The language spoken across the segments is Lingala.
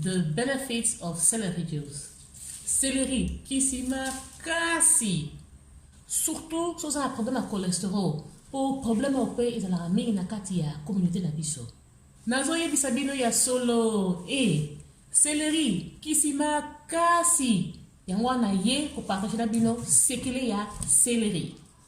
The benefits of celery juice. Celery kisi makasi surtout soki oza na problème ya cholesterol mpo problème oyo mpe ezalaka mingi na kati ya communauté na biso nazoyebisa bino ya solo e eh, seleri kisi makasi yango wana ye kopartage na bino sekele ya seleri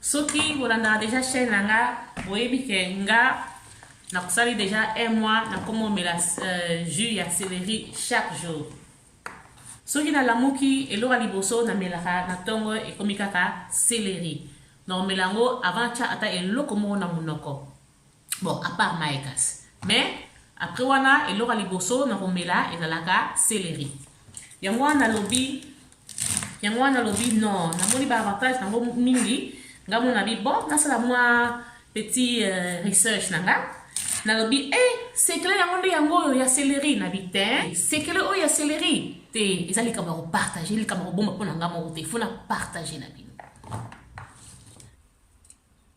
Soki bolandaka deja chaîne na nga boyebi ke nga nakosali deja un mois nakomomela euh, jus ya céleri chaque jour soki nalamuki eloko ya liboso namelaka na ntongo ekomi kaka seleri naomela yango avant tya ata eloko moko na monoko bon à part maye kasi mais après wana eloko ya liboso na komela ezalaka celery yango wana nalobi yango wana nalobi non namoni baavantage nango mingi nga mona bi bon nasala mwa petit euh, research na nga nalobi e eh, sekele yango nde yango oyo ya celery na bi te sekele oyo ya celery te eza likambo ya kopartage likambo ya kobomba mpo na nga moko te fo na partage na bino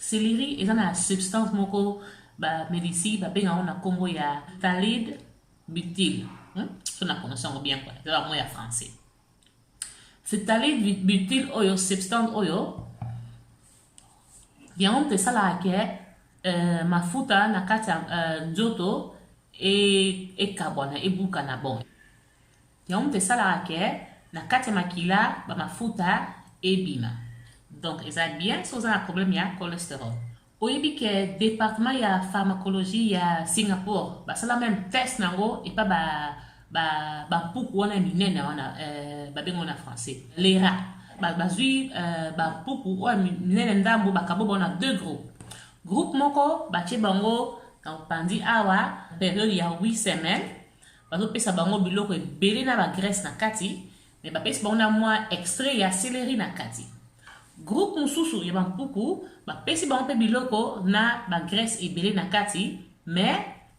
Celery eza na substance moko ba melisi ba benga na kombo ya talid butyl. Hmm? So na prononce yango bien quoi. Eza mot ya français. Ce talid butyl oyo substance oyo yango mpe esalaka ke euh, mafuta na kati ya euh, nzoto ekabwana e ebukana bon Yango moto esalaka ke na kati ya makila ba mafuta ebima. Donc eza bien so oza na problème ya cholesterol. Oyebi ke departement ya pharmacologie ya Singapour basala meme test na yango epa ba ba ba mpuku wana ya minene wana euh, babengo na français lera bazwi euh, ba mpuku oyo minene ndambo bakabo bango na deux groupes groupe moko batie bango na opanzi awa periode ya 8 semaines bazopesa bango biloko ebele na bagrese na kati me bapesi bango na mwa extrait ya seleri na kati groupe mosusu ya bampuku bapesi bango mpe biloko na bagrese ebele na kati me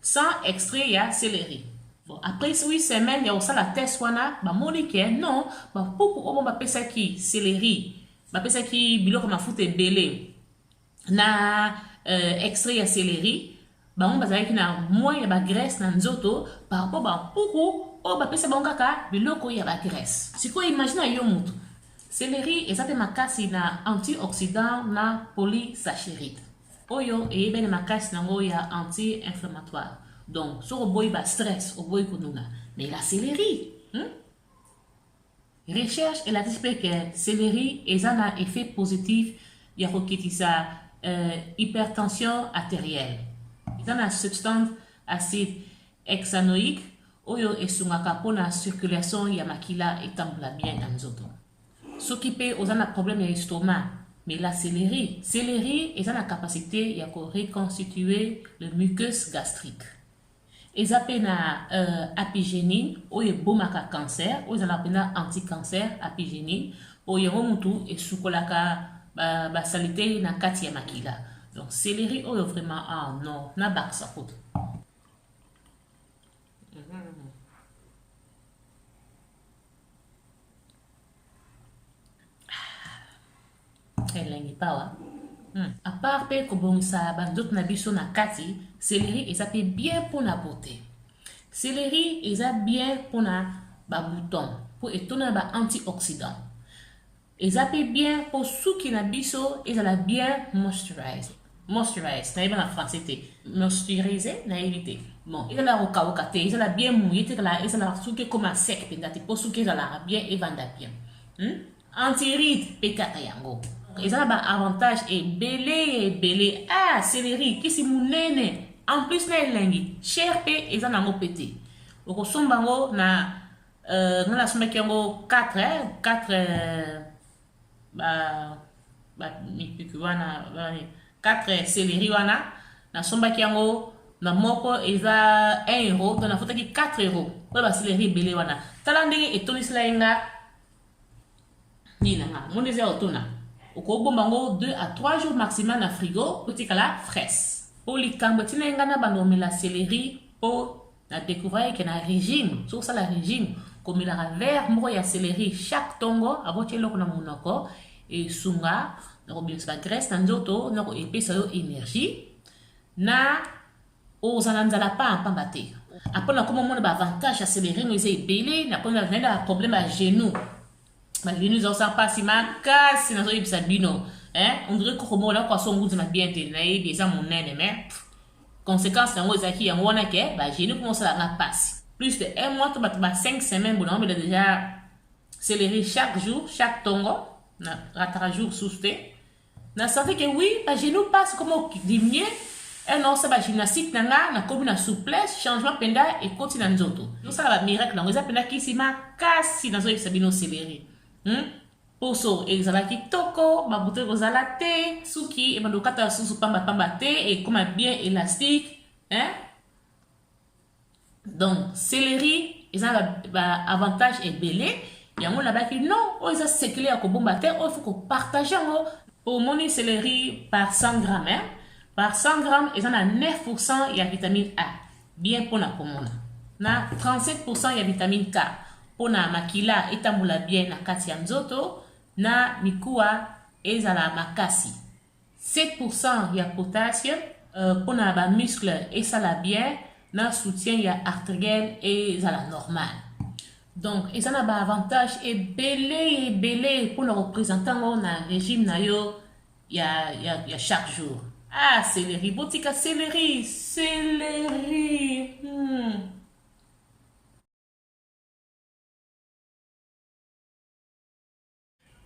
sans extrait ya seleri bon, après 8 semaine ya kosala test wana bamoni ke non bampuku oyo bapesaki seleri bapesaki biloko mafuta ebele na euh, extrait ya celerie bango bazalaki na moins ya bagrèce na nzoto par rapport bampuku oyo bapesa bango kaka biloko ya bagrèce sikoyo imagine yo motu Celery eza mpe makasi na antioxydant na polysacharide oyo eyebani makasi nango ya anti-inflammatoire donc soki oboyi ba stress oboyi konuna mela celery hmm? Recherche elakisi mpe ke celery eza na effet positif ya kokitisa euh, hypertension arterielle. Eza na substance acide hexanoïque oyo esungaka mpo na circulation ya makila etambola bien na nzoto. Soki mpe oza na problème ya estomac, mela celery. Celery eza na capacité ya ko reconstituer le mucus gastrique. eza mpe na uh, apigenine oyo ebomaka cancer oyo ezalaka mpenza anticancer apigenine oyo yango mutu esukolaka basalite ba na kati ya makila donc celery oyo vraiment ah non nabakisa kutu elengi pawa hmm. apart mpe kobongisa banzoto na biso na kati seleri eza mpe bien mpo na bote seleri eza bien mpo na babouton mpo etona na baantioxydant eza mpe bien mpo suki na biso ezala bien moisturize moisturize nayebi na français te moisturize nayebi te bon ezala kokauka te ezala bien mouye te ezala suki ekoma sec mpenza te mpo suki ezalaka bien evanda bien hmm? antiride mpe kaka yango eza na baavantage ebele ya ebele ah seleri kisi monene en plus na elengi cher mpe eza na yango mpe te okosomba yango na euh, nga nasombaki yango 4 4 euh, ba ba mikuki wana 4 seleri wana nasombaki yango na moko eza 1 euro to nafutaki 4 euro oyo baseleri ebele wana tala ndenge etondisela ye nga nini na nga omoni eza otona okobomba yango 2 à 3 jours maximum na frigo otikala fraise mpo likambo etinai ngai na banda omela celeri mpo na découvrir ke na régime soki osala régime komelaka vert moko ya celeri chaque ntongo aboti eloko na monoko esunga na kobimisa bagrèce na nzoto na koepesa yo énergie na oza na nzala pamba pamba te apres nakoma mona baavantage ya selerino eza ebele nakoma naye na baproblème ya genou bagenou eza kosala mpasi makasi nazoyebisa bino ondire koko moko nakoka so nguzima bien te nayebi eza monene me conséquence yango ezalaki yango wana ke bagenou mpo mosala nga mpasi plus de un mois to bato ba 5 semaine bona omela deja celerie chaque jour chaque tongo na rataka jour sous te na senti ke oui bagenou pasi koma odiminue un osa bagymnastique na nga nakomi na souplesse changement mpenza ekoti na nzoto tosala bamiracle yango eza mpenza kisi makasi nazoyebisa bino seleri hmm? poso ezala kitoko babuto ekozala te suki ebanda kokata susu pambapamba te ekoma bien elastique hein? donc celerie eza na baavantage ebele yango nabaki non oyo eza sekele ya kobomba te oyo fo kopartage yango omoni celerie par 100 gramme hein? par 100 gramme eza na 9 pourcent ya vitamine a bien mpo na komona na 37 pourcent ya vitamine k mpo na makila etambola bien na kati ya nzoto na mikuwa ezala makasi 7% ya potassium euh, pona ba muscle esala bien na soutien ya arteriel ezala normal donc eza na ba avantage ebele ebele pona kopresente yango na régime na yo ya, ya, ya chaque jour ah céleri botika céleri céleri hmm.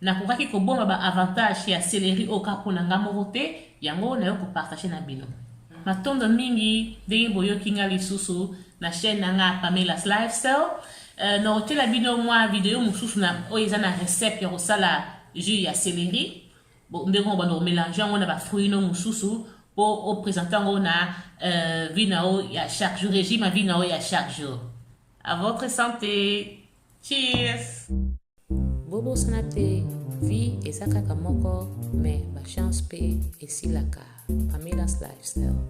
Nakokaki kobomba ba avantages ya celery oyo kaka pona nga moko te, yango nayo ko partager na bino. Matondo mingi ndenge boyoki nga lisusu na chaîne na nga Pamela's Lifestyle. Euh, nakotiela bino mwa video mosusu na oyo eza na recette ya kosala jus ya celery ndenge oyo bando komelange yango na bafruit no mosusu mpo opresente yango na euh, vie na yo ya chaque jour régime ya vie na yo ya chaque jour à votre santé Cheers. bobosana te vie eza kaka moko mais bachance mpe esilaka pamilas lifestyle